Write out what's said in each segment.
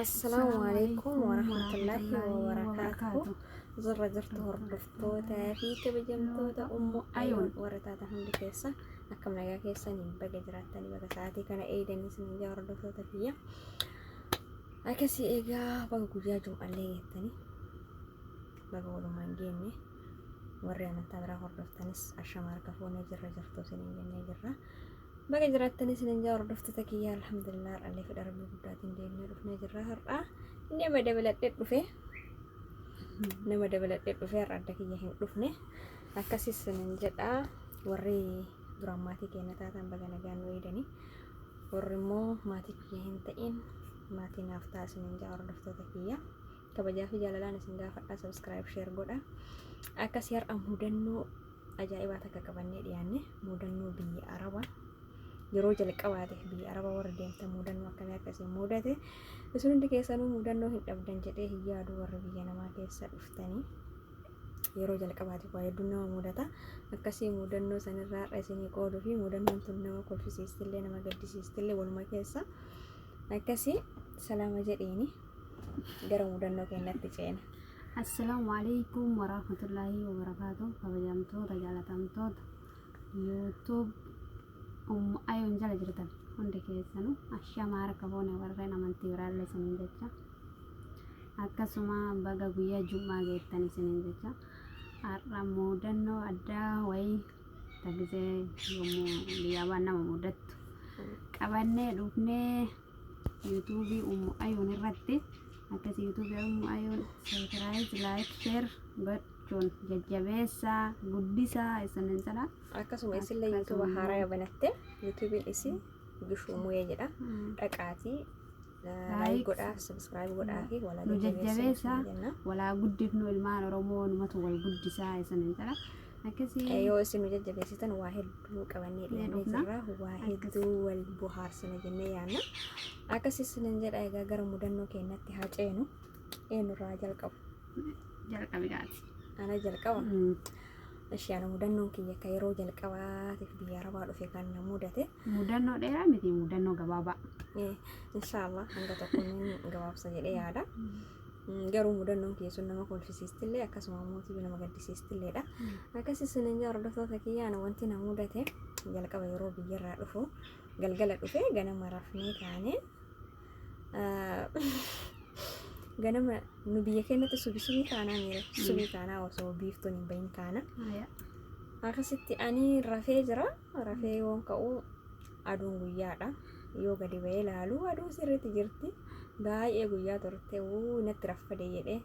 Assalaamu alaikum warahmatullaahi wabarakaatuhu Zurra jirtu hordoftootaa fi kabajamtoota ummu ayoon warra taatan hundi keessa akkam nagaa keessaniin baga jiraattanii baga sa'aatii kana eegdanii isin ijaa hordoftoota biyya akkasii eegaa baga guyyaa jum'allee geettanii baga walumaan geenne warri amantaa biraa hordoftanis ashama harka fuunee jirra jirtu isin jennee jirra. Baga jiraattan isinin jaa hordoftoota kiyya alhamdulillah har'allee fedha rabbii guddaatiin deemnee dhufnee jirra har'aa nama dabaladhe dhufe nama dabaladhe dhufe har'a adda kiyya hin dhufne akkas isinin jedha warri duraan maatii keenya taatan baga nagaan nu eedani warri immoo maatii kiyya hin ta'in maatii naaf ta'a isinin jaa hordoftoota kiyya. kabajaa fi jaalalaan isin gaafadha subscribe share godha akkasii har'a mudannoo ajaa'ibaa takka qabannee dhiyaanne mudannoo biyya araba yeroo jalqabaate biyya araba warra deemtan mudannoo akkamii akka isin mudate isin hundi keessanuu mudannoo hin dhabdan jedhee hin yaadu warra biyya namaa keessa dhuftanii yeroo jalqabaate waa hedduun nama mudata akkasii mudannoo sanirraa har'a isinii qooduu fi mudannoon tun nama kolfisiistillee nama gaddisiistillee waluma keessa akkasii salaama jedhiini. gara mudannoo keenyatti ceena. Assalaamu alaikum warahmatullaahi wabarakaatu kabajamtoota jaalatamtoota YouTube um ayoon jala jirtan hundi keessanu ashamaa harka foone warreen amantii biraallee isiniin jecha akkasuma baga guyyaa jum'aa geettan isiniin jecha har'a mudannoo addaa wayii tagisee yommuu biyyaa baan nama mudattu qabannee dhufnee YouTube Ummu Ayoon irratti akkasi YouTube Ummu Ayoon subscribe like share gochuun jajjabeessaa guddisaa isinin jedha. Akkasuma isillee YouTube Akkasuma. haaraa yoo banatte YouTube'n isii Bishuu Muyee jedha. Dhaqaatii Like. like godhaa subscribe godhaa fi walaa Nu jajjabeessaa. jajjabeessaa walaa guddifnu ilmaan Oromoo numatu wal guddisaa isinin jedha. akkasii Eh, yoo isin nu jajjabeessitan waa hedduu qabannee Mee dhiyaannee dhufna. jirra waa Akkas. hedduu wal bohaarsina jennee yaanna akkasii isinin jedha egaa gara mudannoo keenyatti haa ceenu eenyurraa jalqabu jalqabi gaati. ana jalqaba ishee ana mudannoon kiyya akka yeroo jalqabaatiif biyya arabaa dhufe kan na mudate Mudannoo dheeraa miti mudannoo gabaabaa. Eh, inshaallah hanga tokko ni gabaabsa jedhee yaada Garuu mudannoon kiyya sun nama kolfisiistillee akkasuma immoo tibi nama gaddisiistilleedha. Akkas isin hin hordoftoota kiyya ana wanti na mudate jalqaba yeroo biyyarraa dhufu galgala dhufe ganama rafnee kaanee ganama nu biyya keenyatti subi subii kaanaa miira subii kaanaa osoo biiftuun hin bahin kaana. Akkasitti ani rafee jira rafee yoon ka'u aduun guyyaadha. Yoo gadi ba'ee laalu aduu sirriitti jirti. Baay'ee guyyaa turte wuu natti raffade jedhee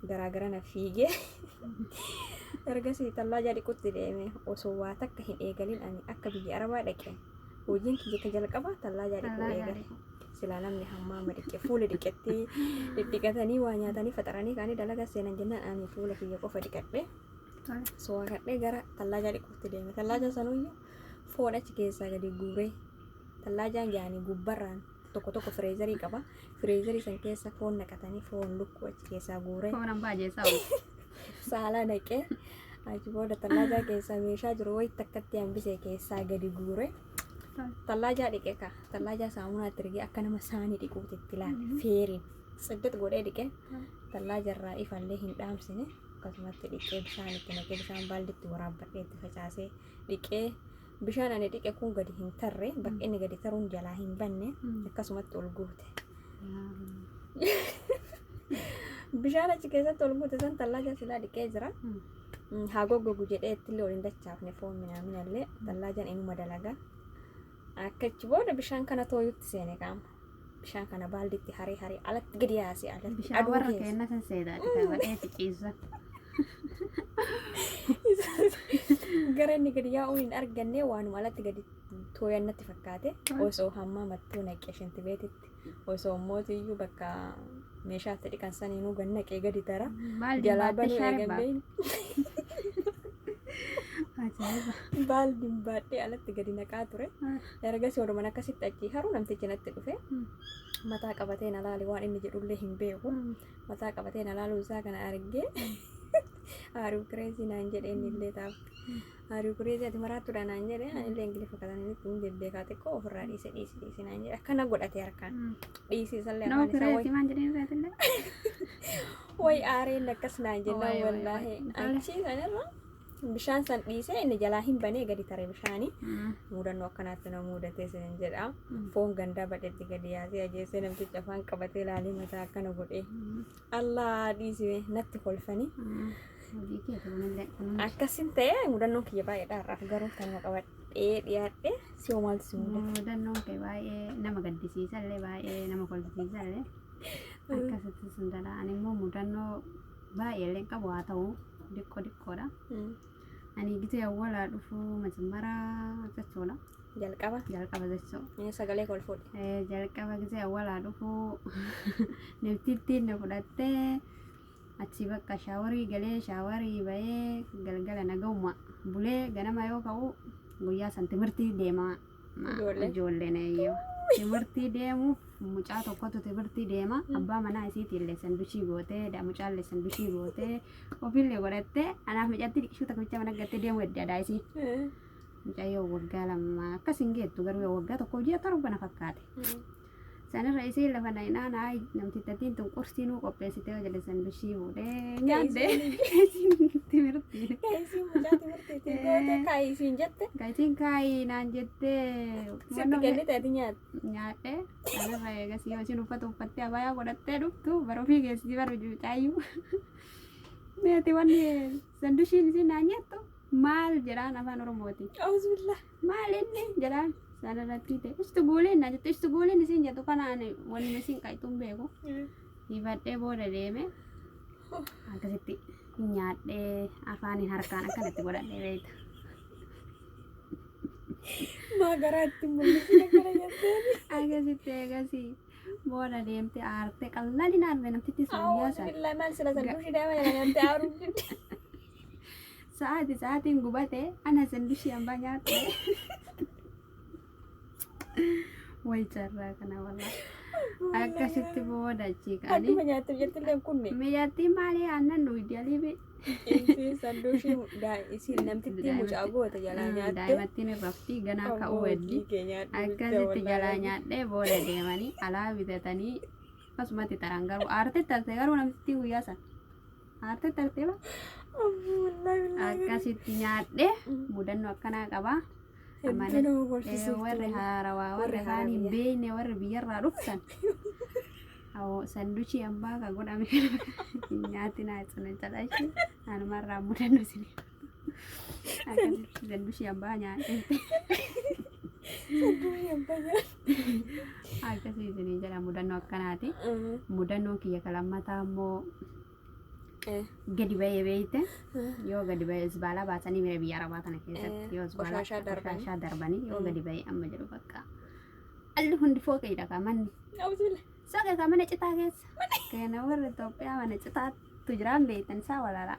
garaa gara na fiigee. Ergasii tallaajaa dhiqutti deeme osoo waa takka hin eegalin ani akka biyya arabaa dhaqe. Hojiin kiyya ka jalqabaa tallaajaa dhiquu Tallaaja eegale. dhiqu. Silaa namni hammaa amma dhiqe fuula dhiqettee dhidhiqatanii waa nyaatanii faxaranii kaanii dalagaa seenan jennaan ani fuula kiyya qofa dhiqadhe. Tole. Soo kadhee gara tallaajaa dhiquutti deeme. Tallaajaa sanuyyuu Foon achi keessaa gadi guuree tallaajaan jaanii gubbarraan tokko tokko fireezarii qaba. Fireezarii san keessa foon naqatanii foon lukkuu achi keessaa guuree Foon abbaa jeessaa oolu. saalaa naqee achi booda tallaajaa keessaa meeshaa jiru wayitti akkatti hambisee keessaa gadi guuree tallaajaa dhiqee kaa tallaajaa saamunaatti rigee akka nama saanii dhiquuti itti laale feeriin tsiddit godhee dhiqee tallaajarraa ifallee hin dhaamsine akkasumatti dhiqee bishaan itti naqee bishaan baalditti waraabbadhee itti facaasee dhiqee bishaan ani dhiqe kun gadi hin tarre bakka inni gadi taruun jalaa hin banne Mm. akkasumatti ol guute. Bishaan achi keessatti ol guute san tallaaja silaa dhiqee jira. Mm. Mm, Haa goggogu jedhee ittillee ol hin dachaafne foon minaaminallee tallaajan inuma dalaga. Akka achi booda bishaan kana tooyutti seene qaama. Bishaan kana baalditti haree haree alatti gadi yaasee alatti Bishaan aduu warra keessa. keenna san seedaati kan badheeti ciisa. Gara inni gadi yaa'uun hin arganne waanuma alatti gadi tooyan natti fakkaate osoo hammaa mattuu naqee shinti beetitti osoo mootiyyuu bakka meeshaa itti dhiqan saniinuu gad naqee gadi tara Baaldi jalaa baattee banuu shaaree eegan beeyne baatte. Ajaa'iba. baaldiin baadhee alatti gadi naqaa ture. Ergasii walumaan akkasitti achii haru namtichi natti dhufe. Mataa qabatee na laale waan inni jedhullee hin beeku. Mataa qabatee na laaluu isaa kana argee haaruu kireesii naan jedhe inni illee taaf. Haaruu kireesii ati maraattudha naan jedhe ani illee ingiliffa kana inni ittiin bebbeekaa xiqqoo ofirraa dhiise dhiise dhiise naan jedhe akkana godhate harkaan. Dhiisii isallee Nama afaan isaa kireetii wayii. maan jedhee irraatille. Wayi aareen akkas naan jennaan Wayi, wayi, wallaahi. wayi. Achii sanirra Bishaan san dhiisee inni jalaa hin banee gadi tare bishaani. Mudannoo akkanaatti na mudatee sin jedha. Foon gandaa badhetti gadi yaasee ajeessee namtichi afaan qabatee laalee mataa akkana godhee. Allaa dhiisime natti kolfanii. Akkasin ta'e mudannoon kiyya baay'eedha har'aaf garuu kanuma qabadhee dhiyaadhee si maaltu si mudate. Mudannoon kee baay'ee nama gaddisiisallee baay'ee nama kolfisiisallee akkasitti sun dhala. Ani immoo mudannoo Baay'ee illee hin qabu haa ta'u diqqoo diqqoodha. Ani gitee awwalaa dhufu majimmara jechuudha. Jalqaba. Jalqaba jechuu. Ee, Sagalee koo ol fuudhi. Eh, Jalqaba gitee awwalaa dhufu niftittiin na fudhattee achii bakka shaawarii galee shaawarii bahee galgala nagahuma bulee ganama yoo ka'u guyyaa san timirtii deema Ijoollee. Ijoolleen eeyyoo. Timirtii deemuuf mucaa tokkotu timirtii deema. Abbaa manaa isiitii illee sandushii gootee, da- mucaa illee sandushii gootee, ofii illee godhattee, anaaf mucatti dhiqisuu takka bicha mana gattee deemuu edda adaa isii. Mucayyoo waggaa lama akkas hin geettu garuu yoo waggaa tokko ji'a torba na fakkaate. Sanirra isiin lafa na hin aana ay namtittattiin tun qursii nuu qopheessitee hojjete san bishii fuudhee nyaadde timirtii. Kaayisii mucaa timirtiitii goote kaayii siin jette. Kaayisiin kaayii naan jettee Sitti kennite ati nyaata. nyaadhe sanirra eegas yoo isin uffata uffattee abayaa godhattee dhuftu bara ofii keessi bara mucaayyuu. Meeti wanni sandushiin isin naan jettu maal jedhaan afaan oromooti. Auzubillah. maal inni jedhaan sararrattii ta'e ustu gooleen na jette ustu gooleen isin jettu kana ani wanni isin qayxuun beeku hibadhee booda deeme akkasitti nyaadhee afaaniin harkaan akkanatti godhadhee beekta. Maa garaa itti mul'isina gara jetteen. Akkasitti eegasii booda deemte aarte qalladinaan namtitti sun Awwaas guyyaa sana. billaa maal sila san dushi daa'ima jedhanii amtee aaruu. Sa'aati sa'aatiin gubate ana sandishii ambaa nyaatte. Way carraa kana walaa. Akkasitti booda achii kaanii. Akkuma nyaattu jettilleen kunne. Miyyattii maalii aannan dhugdi aliibi. Isiin sanduushii isiin namtittii mucaa goote jalaa nyaatte. Daa'imattiin hin rafti ganaa ka'uu heddi. Akkasitti jalaa nyaadhee booda deemanii alaa bitatanii Akkasumatti taraan garuu aartee tarte garuu namtittiin guyyaa san aartee tarte ba akkasitti nyaadhe mudannoo akkanaa qabaa. Hedduu nama Eh, borsisuuf warri ture. haarawaa warri Warri kaan hin haarawaa. beekne warri biyyarraa dhuftan Awoo, sanduchii abbaa ka godhame hin nyaatinaa isin hin calaisin anumarraa mudannoo isin Akkamitti jallushii abbaa nyaate. Durii abbaa nyaate. Akkasii isinii jedha mudannoo akkanaati. Mudannoo kiyya ka lammataa immoo gadi ba'ee beeyte yoo gadi ba'ee isbaalaa baasanii mira biyya arabaa tana keessatti yoo isbaalaa Qoshashaa darbanii. qoshashaa darbanii yoo gadi ba'ee amma jedhu bakka alli hundi fooqeedha ka manni Abdul. soqa ka mana citaa keessa kana warra Itoophiyaa mana citaatu jiraan beeytan isaa walaalaa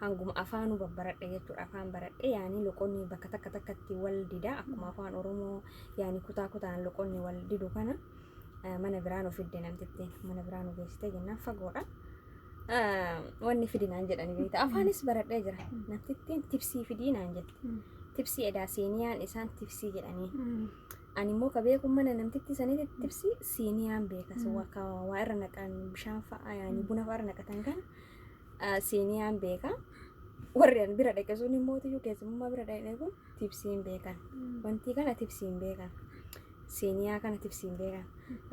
hanguma afaanuu babbaradhe jechuudha. Afaan baradhe yaani loqonni bakka takka takkatti wal dida akkuma afaan Oromoo yaani kutaa kutaan loqonni wal didu kana eh, mana biraa nu fidde namtittiin mana biraa nu geessite jennaan fagoodha. Eh, Wanni fidi naan jedhani beekta. Afaanis baradhee jira. Namtittiin tibsii fidii naan jette. Tibsii edaa siiniyaan isaan tibsii jedhanii. Ani immoo ka beeku mana namtitti sanitti tibsii siiniyaan beekas. Waa ka- waa irra naqan bishaan fa'a yaani buna fa'a irra naqatan kana siiniyaan beeka. Warri an bira dhaqe sun immoo tiyyuu keessummaa bira dhaqe kun tibsiin beekan. Wanti kana tibsiin beekan. Siiniyaa kana tibsiin beekan.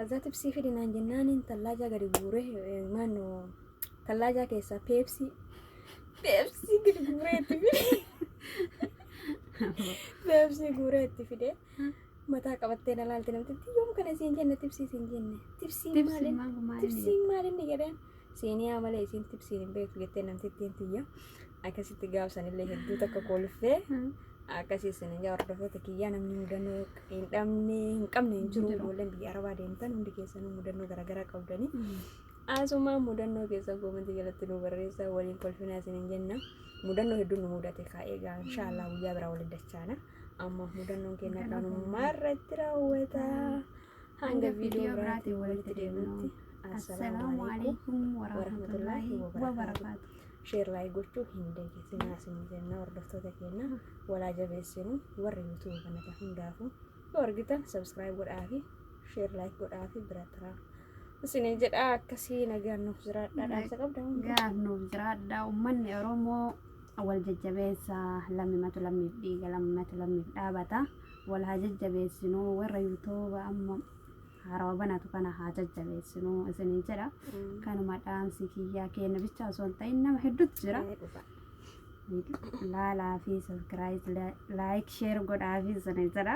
Azaa tibsii fidi naan jennaan tallaajaa gadi guuree eh, maannoo tallaajaa keessaa peepsii peepsii gadi guuree itti fide. Peepsii guuree itti fide. Mataa qabattee na laalte namtitti yoom kana siin jenne tibsii siin jenne. Tibsiin maali? Tibsiin maali inni jedheen. Siiniyaa malee isiin tibsiin hin beektu jettee namtittiin tiyya. Akkasitti gaafsanillee hedduu takka kolfee akkasii isin ija hordofoota kiyyaa namni mudannoo hin dhabne hin qabne hin jiru ijoolleen biyya arabaa deemtan hundi keessanuu mudannoo garaagaraa qabdanii. Asuma mudannoo keessan koomantii jalatti nu barreessaa waliin kolfinaa isin hin jenna. Mudannoo hedduun nu mudate kaa eegaa inshaallah guyyaa biraa waliin dachaana. Amma mudannoon keenya kanummaa irratti raawwata. Hanga viidiyoo biraatiin walitti deemnutti. Assalaamu alaikum warahmatullaahi wabarakaatu. Sheer laayik gochuu hin deegesinaa isin jenna hordoftoota keenya walaa jabeessinu warri yuutuuba kanata hundaafu yoo argitan sabskiraayib godhaafi sheer laayik godhaafi bira turaa. Isin jedha akkasii nagaan nuuf jiraadha dhaamsa qabda. Gaaf nuuf jiraadha uummanni Oromoo wal jajjabeessa lammimatu lammiif dhiiga lammimatu lammiif dhaabata. Wal haa jajjabeessinu warra yuutuuba amma haarawa banatu kana haa jajjabeessinu isiniin jedha. Kanuma dhaamsi kiyyaa keenya bicha osoo hin ta'in nama hedduutu jira. Laalaa fi sabskiraayib laayik sheer godhaa fi isiniin jedha.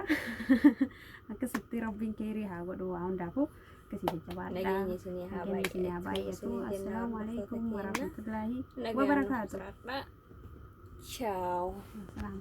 Akkasitti rabbiin keerii haa godhu waa hundaafuu akkasii jajjabaadha. Nageenya isinii haa Nageenya isinii haa baay'atu. baay'atu. Isinii jenna Assalaamu hordoftoota alaikum keenya. warahmatullaahi Nagaan nuuf wabarakaatu. jiraadhaa. Ciao. Assalaamu